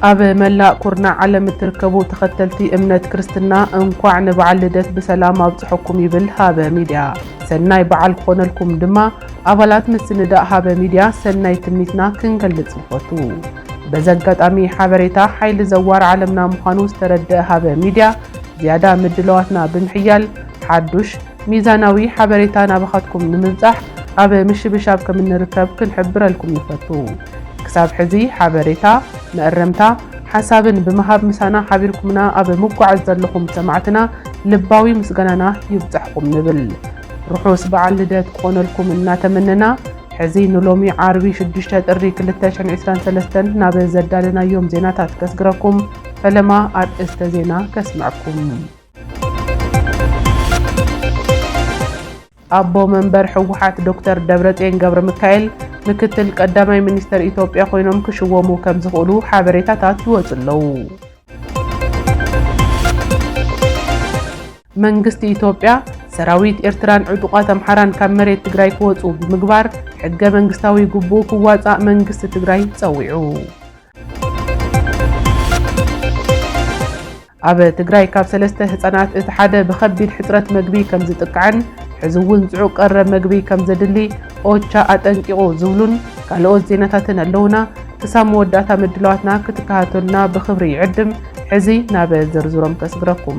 ኣብ መላእ ኩርናዕ ዓለም እትርከቡ ተኸተልቲ እምነት ክርስትና እንኳዕ ንበዓል ልደት ብሰላም ኣብፅሐኩም ይብል ሃበ ሚድያ። ሰናይ በዓል ክኾነልኩም ድማ ኣባላት ምስንዳእ ሃበ ሚድያ ሰናይ ትምኒትና ክንገልፅ ንፈቱ። በዚ ኣጋጣሚ ሓበሬታ ሓይሊ ዘዋር ዓለምና ምዃኑ ዝተረድኣ ሃበ ሚድያ ዝያዳ ምድላዋትና ብምሕያል ሓዱሽ ሚዛናዊ ሓበሬታ ናባኻትኩም ንምብፃሕ ኣብ ምሽብሻብ ከም እንርከብ ክንሕብረልኩም ንፈቱ። ክሳብ ሕዚ ሓበሬታ፣ መእረምታ፣ ሓሳብን ብምሃብ ምሳና ሓቢርኩምና ኣብ ምጓዓዝ ዘለኹም ሰማዕትና ልባዊ ምስጋናና ይብፃሕኹም ንብል። ርሑስ በዓል ልደት ክኾነልኩም እናተመነና፣ ሕዚ ንሎሚ ዓርቢ ሽዱሽተ ጥሪ ክልተ ሽሕን ዒስራን ሰለስተን ናብ ዘዳለናዮም ዜናታት ከስግረኩም፣ ፈለማ ኣርእስተ ዜና ከስምዐኩም። ኣቦ መንበር ህወሓት ዶክተር ደብረፅዮን ገብረሚካኤል ምክትል ቀዳማይ ሚኒስትር ኢትዮጵያ ኮይኖም ክሽወሙ ከምዝኽእሉ ሓበሬታታት ይወፁ ኣለዉ። መንግስቲ ኢትዮጵያ፣ ሰራዊት ኤርትራን ዕጡቓት ኣምሓራን ካብ መሬት ትግራይ ክወጽኡ ብምግባር ሕገ መንግስታዊ ግቡኡ ክዋጻእ መንግስቲ ትግራይ ጸዊዑ። ኣብ ትግራይ ካብ ሰለስተ ህጻናት እቲ ሓደ ብኸቢድ ሕጽረት መግቢ ከምዝጥቃዕን ሕዚ እውን ጽዑቕ ቀረብ መግቢ ከምዘድሊ ኦቻ ኣጠንቂቑ ዝብሉን ካልኦት ዜናታትን ኣለውና። ክሳብ መወዳእታ ምድላዋትና ክትከታተሉና ብኽብሪ ይዕድም። ሕዚ ናብ ዝርዝሮም ከስግረኩም።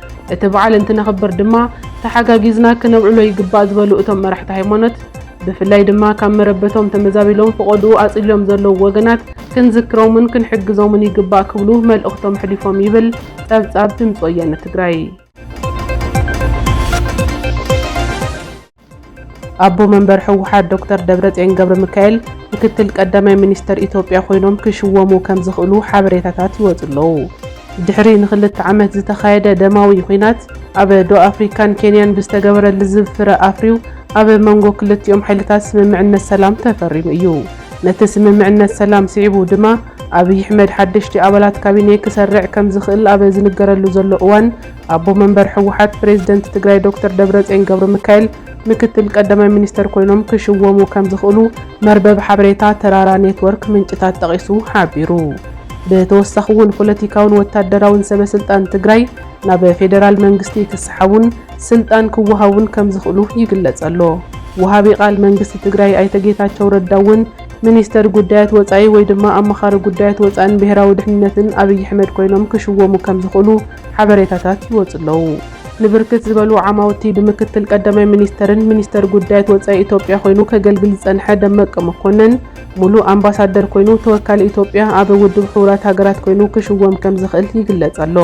እቲ በዓል እንትነኽብር ድማ ተሓጋጊዝና ክነብዕሎ ይግባእ ዝበሉ እቶም መራሕቲ ሃይማኖት፣ ብፍላይ ድማ ካብ መረበቶም ተመዛቢሎም ፈቖድኡ ኣፅሊሎም ዘለዉ ወገናት ክንዝክሮምን ክንሕግዞምን ይግባእ ክብሉ መልእኽቶም ኣሕሊፎም ይብል ፀብፃብ ድምፂ ወያነ ትግራይ። ኣቦ መንበር ህወሓት ዶክተር ደብረፅዮን ገብረሚካኤል ምክትል ቀዳማይ ሚኒስትር ኢትዮጵያ ኮይኖም ክሽወሙ ከምዝኽእሉ ሓበሬታታት ይወፁ ኣለዉ። ድሕሪ ንክልተ ዓመት ዝተኻየደ ደማዊ ኹናት ኣብ ዶ ኣፍሪካን ኬንያን ብዝተገበረ ልዝብ ፍረ ኣፍርዩ ኣብ መንጎ ክልቲኦም ሓይልታት ስምምዕነት ሰላም ተፈሪሙ እዩ። ነቲ ስምምዕነት ሰላም ስዒቡ ድማ ኣብይ ኣሕመድ ሓደሽቲ ኣባላት ካቢኔ ክሰርዕ ከምዝኽእል ኣብ ዝንገረሉ ዘሎ እዋን ኣቦ መንበር ህወሓት ፕሬዝደንት ትግራይ ዶክተር ደብረፅዮን ገብረሚካኤል ምክትል ቀዳማይ ሚኒስትር ኮይኖም ክሽወሙ ከምዝኽእሉ መርበብ ሓበሬታ ተራራ ኔትወርክ ምንጭታት ጠቒሱ ሓቢሩ። ብተወሳኺ እውን ፖለቲካውን ወታደራውን ሰበ ስልጣን ትግራይ ናብ ፌደራል መንግስቲ ክሰሓቡን ስልጣን ክወሃቡን ከምዝኽእሉ ይግለፅ ኣሎ። ወሃቢ ቃል መንግስቲ ትግራይ ኣይተ ጌታቸው ረዳ እውን ሚኒስትር ጉዳያት ወፃኢ ወይ ድማ ኣማኻሪ ጉዳያት ወፃእን ብሄራዊ ድሕንነትን ኣብይ ኣሕመድ ኮይኖም ክሽወሙ ከምዝኽእሉ ሓበሬታታት ይወጽኡ ኣለዉ። ንብርክት ዝበሉ ዓማውቲ ብምክትል ቀዳማይ ሚኒስተርን ሚኒስተር ጉዳያት ወጻኢ ኢትዮጵያ ኮይኑ ከገልግል ዝጸንሐ ደመቀ መኮነን ሙሉእ ኣምባሳደር ኮይኑ ተወካሊ ኢትዮጵያ ኣብ ውድብ ሕቡራት ሃገራት ኮይኑ ክሽወም ከምዝኽእል ይግለጽ ኣሎ።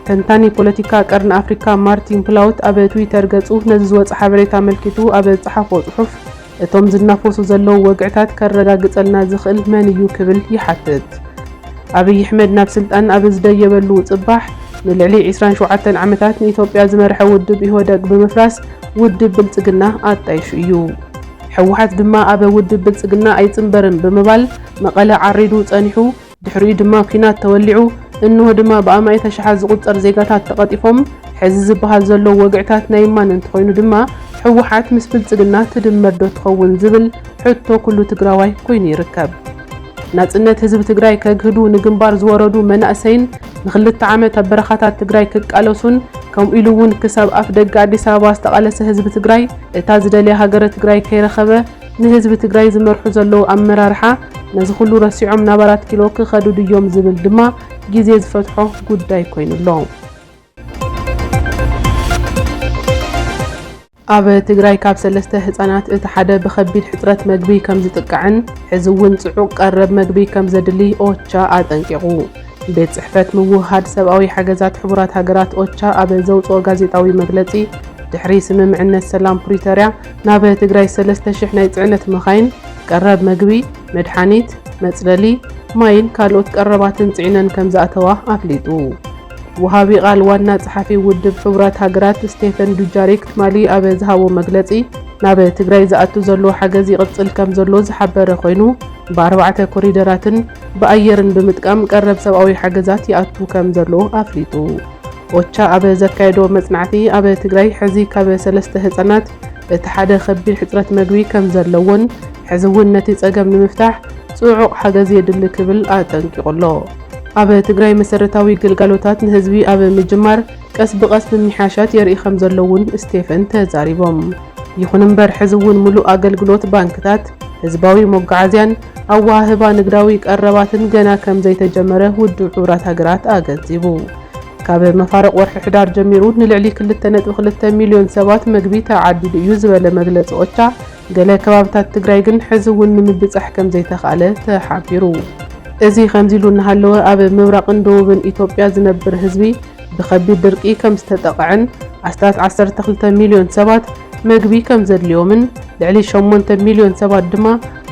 ተንታኒ ፖለቲካ ቀርኒ ኣፍሪካ ማርቲን ፕላውት ኣብ ትዊተር ገጹ ነዚ ዝወጸ ሓበሬታ ኣመልኪቱ ኣብ ዝጸሓፎ ጽሑፍ፣ እቶም ዝናፈሱ ዘለዉ ወግዕታት ከረጋግጸልና ዝኽእል መን እዩ ክብል ይሓትት። ኣብይ ኣሕመድ ናብ ስልጣን ኣብ ዝደየበሉ ጽባሕ፣ ንልዕሊ ዕስራን ሸውዓተን ዓመታት ንኢትዮጵያ ዝመርሐ ውድብ ኢህወደግ ብምፍራስ ውድብ ብልጽግና ኣጣይሹ እዩ። ህወሓት ድማ ኣብ ውድብ ብልጽግና ኣይጽንበርን ብምባል መቐለ ዓሪዱ ጸኒሑ፣ ድሕሪኡ ድማ ኲናት ተወሊዑ፣ እንሆ ድማ ብኣማኢት ኣሽሓት ዝቑጸር ዜጋታት ተቐጢፎም፣ ሕዚ ዝበሃል ዘሎ ወግዕታት ናይ እማን እንተኾይኑ ድማ ህወሓት ምስ ብልጽግና ትድመር ዶ ትኸውን ዝብል ሕቶ ኩሉ ትግራዋይ ኮይኑ ይርከብ። ናጽነት ህዝቢ ትግራይ ከግህዱ ንግንባር ዝወረዱ መናእሰይን ንክልተ ዓመት ኣብ በረኻታት ትግራይ ክቃለሱን ከምኡ ኢሉ እውን ክሳብ ኣፍደገ ኣዲስ ኣበባ ዝተቓለሰ ህዝቢ ትግራይ እታ ዝደልያ ሃገረ ትግራይ ከይረኸበ ንህዝቢ ትግራይ ዝመርሑ ዘለዉ ኣመራርሓ ነዚ ኹሉ ረሲዖም ናብ ኣራት ኪሎ ክኸዱ ድዮም ዝብል ድማ ግዜ ዝፈትሖ ጉዳይ ኮይኑ ኣሎ። ኣብ ትግራይ ካብ ሰለስተ ህፃናት እቲ ሓደ ብኸቢድ ሕፅረት መግቢ ከምዝጥቃዕን ሕዚ እውን ፅዑቕ ቀረብ መግቢ ከምዘድሊ ኦቻ ኣጠንቂቑ። ቤት ፅሕፈት ምውህሃድ ሰብኣዊ ሓገዛት ሕቡራት ሃገራት ኦቻ ኣብ ዘውፅኦ ጋዜጣዊ መግለፂ ድሕሪ ስምምዕነት ሰላም ፕሪቶርያ ናብ ትግራይ ሰለስተ ሽሕ ናይ ፅዕነት መኻይን ቀረብ መግቢ፣ መድሓኒት፣ መፅለሊ፣ ማይን ካልኦት ቀረባትን ፅዒነን ከምዝኣተዋ ኣፍሊጡ። ወሃቢ ቓል ዋና ፀሓፊ ውድብ ሕቡራት ሃገራት ስቴፈን ዱጃሪክ ትማሊ ኣብ ዝሃቦ መግለፂ ናብ ትግራይ ዝኣቱ ዘሎ ሓገዝ ይቕፅል ከምዘሎ ዝሓበረ ኮይኑ ብኣርባዕተ ኮሪደራትን ብኣየርን ብምጥቃም ቀረብ ሰብኣዊ ሓገዛት ይኣቱ ከምዘሎ ኣፍሊጡ። ኦቻ ኣብ ዘካየዶ መጽናዕቲ፣ ኣብ ትግራይ ሕዚ ካብ ሰለስተ ህጻናት እቲ ሓደ ከቢድ ሕጽረት መግቢ ከም ዘለዎን ሕዚ እውን ነቲ ጸገም ንምፍታሕ ጽዑቕ ሓገዝ የድሊ ክብል ኣጠንቂቑ ኣሎ። ኣብ ትግራይ መሰረታዊ ግልጋሎታት ንህዝቢ ኣብ ምጅማር ቀስ ብቐስ ምምሕያሻት የርኢ ከም ዘሎ እውን ስቴፈን ተዛሪቦም። ይኹን እምበር ሕዚ እውን ምሉእ ኣገልግሎት ባንክታት፣ ህዝባዊ መጓዓዝያን፣ ኣወሃህባ ንግዳዊ ቀረባትን ገና ከም ዘይተጀመረ ውድብ ሕቡራት ሃገራት ኣገንዚቡ። ካብ መፋርቕ ወርሒ ሕዳር ጀሚሩ ንልዕሊ ክልተ ነጥቢ ክልተ ሚልዮን ሰባት መግቢ ተዓዲሉ እዩ ዝበለ መግለፂ ኦቻ፣ ገለ ከባብታት ትግራይ ግን ሕዚ እውን ንምብፃሕ ከም ዘይተኽኣለ ተሓቢሩ። እዚ ከምዚ ኢሉ እናሃለወ ኣብ ምብራቕን ደቡብን ኢትዮጵያ ዝነብር ህዝቢ ብከቢድ ድርቂ ከም ዝተጠቐዐን ኣስታት ዓሰርተ ክልተ ሚልዮን ሰባት መግቢ ከም ዘድልዮምን ልዕሊ ሸሞንተ ሚልዮን ሰባት ድማ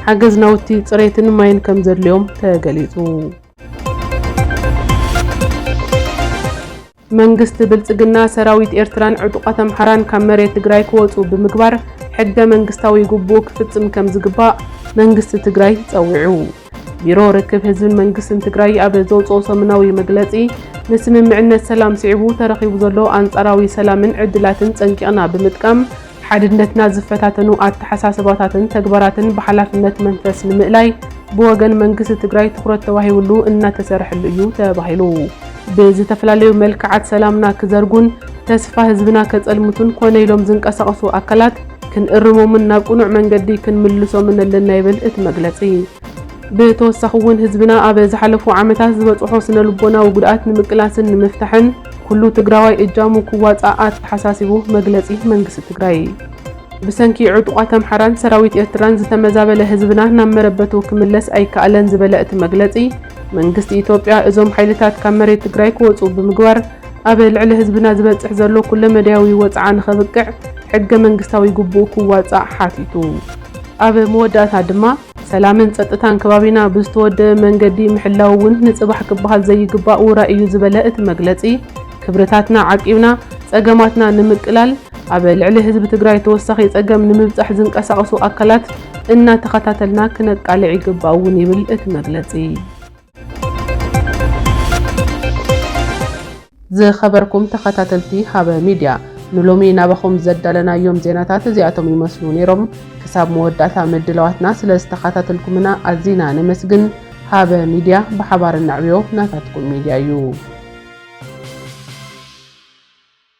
ሓገዝ ናውቲ ፅሬትን ማይን ከምዘድልዮም ተገሊፁ። መንግስቲ ብልፅግና ሰራዊት ኤርትራን ዕጡቓት ኣምሓራን ካብ መሬት ትግራይ ክወፁ ብምግባር ሕገ መንግስታዊ ግቡኡ ክፍፅም ከምዝግባእ መንግስቲ ትግራይ ፀዊዑ። ቢሮ ርክብ ህዝብን መንግስትን ትግራይ ኣብ ዘውፅኦ ሰሙናዊ መግለፂ ንስምምዕነት ሰላም ስዒቡ ተረኺቡ ዘሎ ኣንፃራዊ ሰላምን ዕድላትን ፀንቂቕና ብምጥቃም ሓድነትና ዝፈታተኑ ኣተሓሳስባታትን ተግባራትን ብሓላፍነት መንፈስ ንምእላይ ብወገን መንግስቲ ትግራይ ትኹረት ተዋሂብሉ እናተሰርሐሉ እዩ ተባሂሉ። ብዝተፈላለዩ መልክዓት ሰላምና ክዘርጉን ተስፋ ህዝብና ከፀልምቱን ኮነ ኢሎም ዝንቀሳቐሱ ኣካላት ክንእርሞምን ናብ ቅኑዕ መንገዲ ክንምልሶምን ኣለና ይብል እቲ መግለፂ። ብተወሳኺ እውን ህዝብና ኣብ ዝሓለፉ ዓመታት ዝበፅሖ ስነልቦናዊ ጉድኣት ንምቅላስን ንምፍታሕን ኩሉ ትግራዋይ እጃሙ ክዋፃእ ኣተሓሳሲቡ መግለፂ መንግስቲ ትግራይ። ብሰንኪ ዕጡቓት ኣምሓራን ሰራዊት ኤርትራን ዝተመዛበለ ህዝብና ናብ መረበቱ ክምለስ ኣይከኣለን ዝበለ እቲ መግለፂ፣ መንግስቲ ኢትዮጵያ እዞም ሓይልታት ካብ መሬት ትግራይ ክወፅኡ ብምግባር ኣብ ልዕሊ ህዝብና ዝበፅሕ ዘሎ ኩለመዳያዊ ወፅዓ ንኸብቅዕ ሕገ መንግስታዊ ግቡኡ ክዋፃእ ሓቲቱ። ኣብ መወዳእታ ድማ ሰላምን ፀጥታን ከባቢና ብዝተወደበ መንገዲ ምሕላው እውን ንፅባሕ ክበሃል ዘይግባእ ውራይ እዩ ዝበለ እቲ መግለፂ፣ ክብርታትና ዓቂብና ፀገማትና ንምቅላል ኣብ ልዕሊ ህዝቢ ትግራይ ተወሳኺ ፀገም ንምብፃሕ ዝንቀሳቐሱ ኣካላት እናተኸታተልና ክነቃልዕ ይግባእ እውን ይብል እቲ መግለፂ። ዝኸበርኩም ተኸታተልቲ ሃበ ሚድያ ንሎሚ ናባኹም ዘዳለናዮም ዜናታት እዚኣቶም ይመስሉ ነይሮም። ክሳብ መወዳእታ ምድላዋትና ስለ ዝተኸታተልኩምና ኣዚና ነመስግን። ሃበ ሚድያ ብሓባር ነዕብዮ ናታትኩም ሚድያ እዩ።